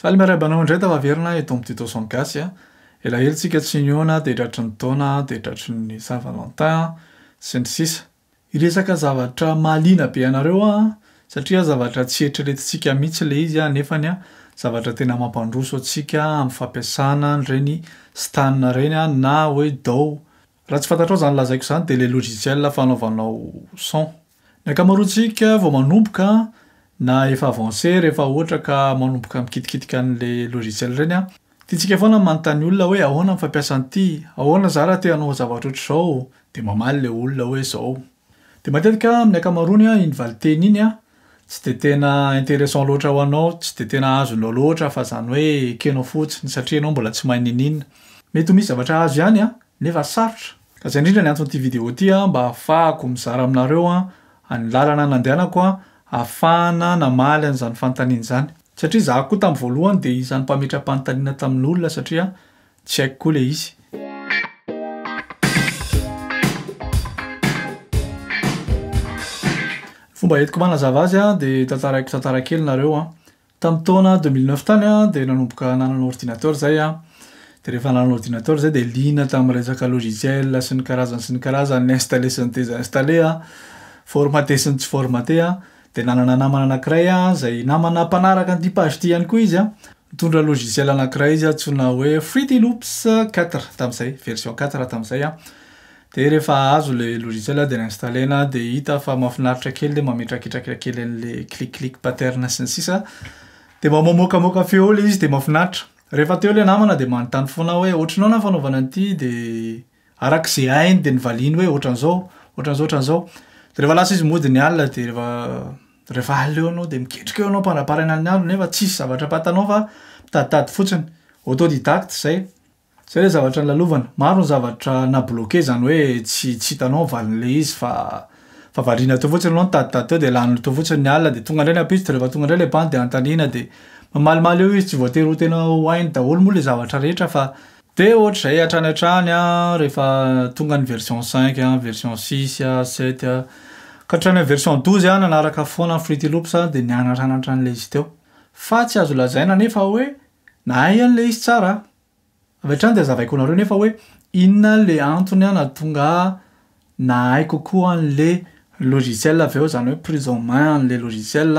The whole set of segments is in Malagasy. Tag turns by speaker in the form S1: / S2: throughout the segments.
S1: Faly miarahaba anao indray Tafaverina eto amin'ny Tuto son Gasy a! Elaela tsika tsy nihaona dia tratry ny taona dia tratry ny Saint Valentin sy ny sisa. Hiresaka zavatra mahaliana be anareo aho satria zavatra tsy eritreretintsika mihitsy ilay izy nefany an zavatra tena mampandroso antsika amin'ny fampiasana an'ireny stan ireny na hoe dao Raha tsy fantatrao izany lazaiko izany dia ilay logiciel fanaovanao son. Ny ankamaroantsika vao manomboka na efa avancé rehefa ohatra ka manomboka mikitikitika an'ilay logiciel ireny an, tiantsika foana ny manontany olona hoe ahoana ny fampiasa an'ity, ahoana za raha te hanao zavatra ohatr'izao, dia mamaly ilay olona hoe izao. Dia matetika amin'ny ankamaroany iny valinteny iny tsy dia tena intéressant loatra ho anao, tsy dia tena azonao loatra fa izany hoe ekenao fotsiny satria ianao mbola tsy mahay niniana. Mety ho misy zavatra azo ihany nefa sarotra. Ka izay indrindra ny anton'ity vidéo ity mba hahafahako mizara aminareo ny lalana nandehanako hahafahana namaly an'izany fanontaniana izany. Satria izaho koa tamin'ny voalohany dia isan'ny mpametra-panontaniana tamin'olona satria Tsy haiko koa le izy. Fomba entiko mba hanazava azy a, de tantaraiko tantara kely nareo a. Tamin'ny taona deux mille neuf tany a, de nanomboka nanana ordinateur zay a, de rehefa nanana ordinateur zay de liana tamin'ny resaka logiciel sy ny karazany sy ny karazany, ny installer sy ny desinstaller a, formater sy ny tsy formater a, Dia nanana namana anankiray aho izay namana mpanaraka an'ity page ity ihany koa izy an. Nitondra logiciel anankiray izy antsoina hoe Fruity Loops quatre tamin'izay, version quatre tamin'izay an. Dia rehefa azo ilay logiciel aho dia ni-installer-na aho dia hita fa mahafinaritra kely ilay mametraketraka kely an'ilay clic clic pattern sy ny sisa. Dia mba mamoakamoaka feo ilay izy dia mahafinaritra. Rehefa teo ilay namana dia manontany foana aho hoe ohatry ny ahoana ny fanaovana an'ity dia. Araka izay hainy dia nivaliany hoe ohatran'izao, ohatran'izao, ohatran'izao. Dia rehefa lasa izy mody ny alina dia rehefa rehefa alina eo ianao dia miketrika eo ianao am-pandraparana ny andro nefa tsisy zavatra ampantanao fa mitaditady fotsiny. Autodidacte izay. Izay ilay zavatra nolalovana. Maro ny zavatra na-bloquer izany hoe tsy tsy hitanao ny valin'ilay izy fa fa variana teo fotsiny ianao nitaditady teo dia lany teo fotsiny ny alina dia tonga indray ny ampitso dia rehefa tonga indray ilay bandy dia anontaniana dia mamalimaly eo izy tsy voatery ho tena ho hainy daholo moa ilay zavatra rehetra fa Dia ohatr'izay hatrany hatrany an, rehefa tonga ny version cinq an, version six an, sept an, ka hatrany amin'ny version douze an, nanaraka foana ny Fruity Loops an, dia nianatra anatra an'ilay izy teo. Fa tsy azo lazaina anefa hoe nahay an'ilay izy tsara aho. Avy hatrany dia hazavaiko ho anareo anefa hoe inona ilay antony nahatonga ahy na hay kokoa an'le logiciel avy eo, zany hoe prise en main an'le logiciel,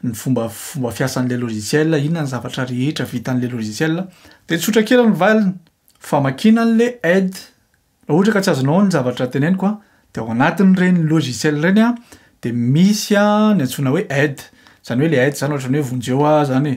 S1: ny fomba fomba fiasan'le logiciel, inona ny zavatra rehetra vitan'le logiciel. De tsotra kely ny valiny, famakiana an'le aide, raha ohatra ka tsy azonao ny zavatra teneniko a, de ao anatin'ireny logiciel ireny a de misy a ny antsoina hoe aide, zany hoe le aide zany ohatran'ny hoe vonjeo aho zany e.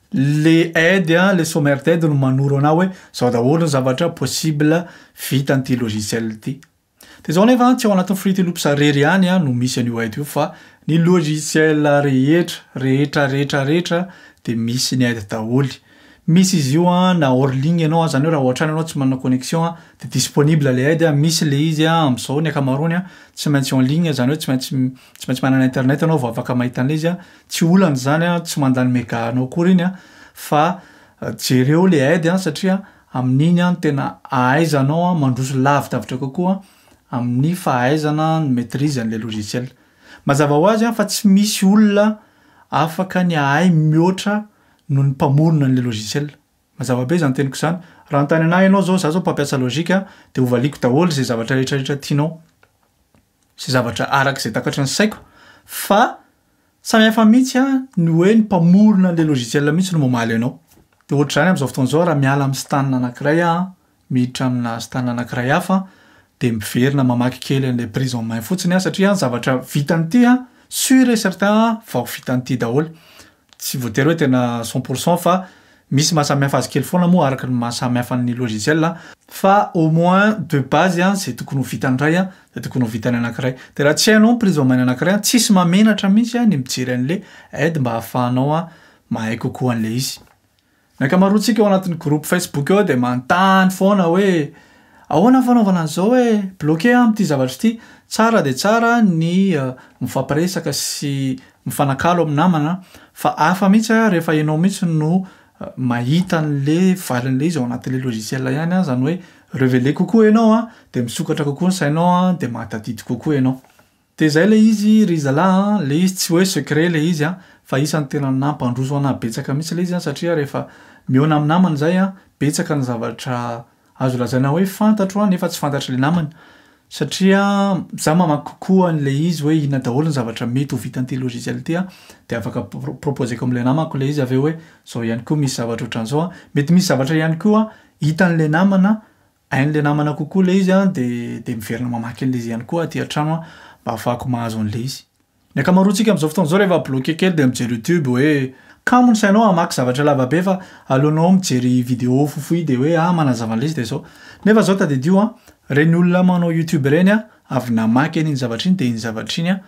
S1: Le aide an, le sommaire d'aide no manoro anao hoe zao daholo ny zavatra possible vitan'ity logiciel ity. De zao nefa tsy ao anatin'ny Fruity Loops rery ihany no misy an'io aide io fa ny logiciel rehetra, rehetra, rehetra, rehetra de misy ny aide daholo. Misy izy io an na hors ligne ianao zany hoe raha ohatrany ianao tsy manana connexion an de disponible le aide, misy le izy an am'zao ny akamaroany an tsy maintsy en ligne zany hoe tsy maintsy tsy maintsy manana internet ianao vao afaka mahita an'le izy an. Tsy olana izany an, tsy manda ny mega anao akory iny an, fa jereo le aide an satria amin'iny an tena ahaizanao an mandroso lavidavitra kokoa amin'ny fahaizana ny maitrise an'ilay logiciel. Mazava ho azy an fa tsy misy olona afaka ny hahay mihoatra noho ny mpamorona an'ilay logiciel. Mazava be izany teniko izany. Raha hanontany anahy ianao izao, izaho izao mpampiasa logic an, dia hovaliako daholo izay zavatra rehetra rehetra tianao. Izay zavatra araka izay takatry ny saiko fa samy hafa mihitsy an, ny hoe ny mpamorona an'ilay logiciel mihitsy no mamaly anao. Dia ohatr'izany amin'izao fotoana izao raha miala amin'ny stan anankiray aho, miditra amina stan anankiray hafa dia miverina mamaky kely an'ilay prise en main fotsiny aho satria zavatra vitan'ity an, sur et certain an, vao vitan'ity daholo. Tsy voatery hoe tena cent pour cent fa misy maha samihafa azy kely foana moa araka ny maha samihafa ny logiciel a, fa au moins de base a zay tokony ho vitan'ny iray a de tokony ho vitan'ny anakiray, de raha tsy hainao ny prise en main-ny anakiray a tsisy mahamenatra mihitsy a ny mijery an'le aide mba hahafahanao a mahay kokoa an'le izy. Ny ankamaroantsika ao anatin'ny groupe Facebook ao dia manontany foana hoe ahoana ny fanaovana an'izao hoe bloquer aho amin'ity zavatra ity. Tsara dia tsara ny mifampiresaka sy mifanakalo amin'ny namana fa hafa mihitsy rehefa ianao mihitsy no mahita an'ilay valin'ilay izy ao anatin'ilay logiciel ihany izany hoe reveler kokoa ianao dia misokatra kokoa ny sainao dia mahatadidy kokoa ianao. De zay le izy ry zalah a, le izy tsy hoe secret le izy a, fa isany tena nampandroso anah betsaka mihitsy le izy a, satria rehefa mihaona am namany zay a, betsaka ny zavatra azo lazaina hoe fantatro a, nefa tsy fantatry le namany, satria za mamaky kokoa an le izy hoe inona daholo ny zavatra mety ho vitan'ity logiciel ty a, de afaka pro- proposeko am le namako le izy avy eo hoe zao ihany koa misy zavatra otran'zao a, mety misy zavatra ihany koa hitan'le namana Hain'ilay namana kokoa ilay izy dia dia miverina mamaky an'ilay izy ihany koa aty an-trano aho mba hahafahako mahazo an'ilay izy. Ny ankamaroantsika amin'izao fotoana izao rehefa bloqué kely dia mijery YouTube hoe kamo ny sainao hamaky zavatra lava be fa aleonao mijery vidéo fohifohy dia hoe ah manazava an'ilay izy dia izao. Nefa izao tadidio an! ireny olona manao YouTube ireny an! avy namaky an'iny zavatra iny dia iny zavatra iny an!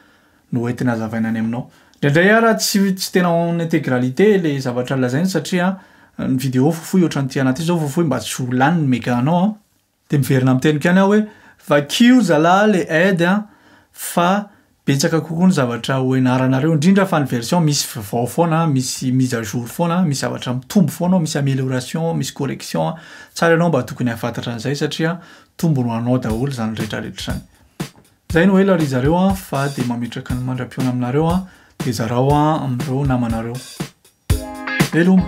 S1: no hoentina azavaina any aminao. Indraindray ara tsy tsy tena en intégralité le zavatra lazainy satria ny vidéo fohifohy ohatran'ity anaty ity zao fohifohy mba tsy ho lany ny mega anao an. De miverina amin'ny teniko ihany aho hoe vakio zalah le aide an fa betsaka kokoa ny zavatra ho enaranareo indrindra fa ny version misy vvao foana an, misy mise à jour foana an, misy zavatra mitombo foana ao, misy amélioration, misy correction an. Tsara ianao mba tokony hahafantatra an'izay satria tombony ho anao daholo izany rehetrarehetra izany. Zay no ela ry zareo a fa de mametraka ny mandra-pihaona aminareo a de zarao a amin'ireo namanareo. Veloma!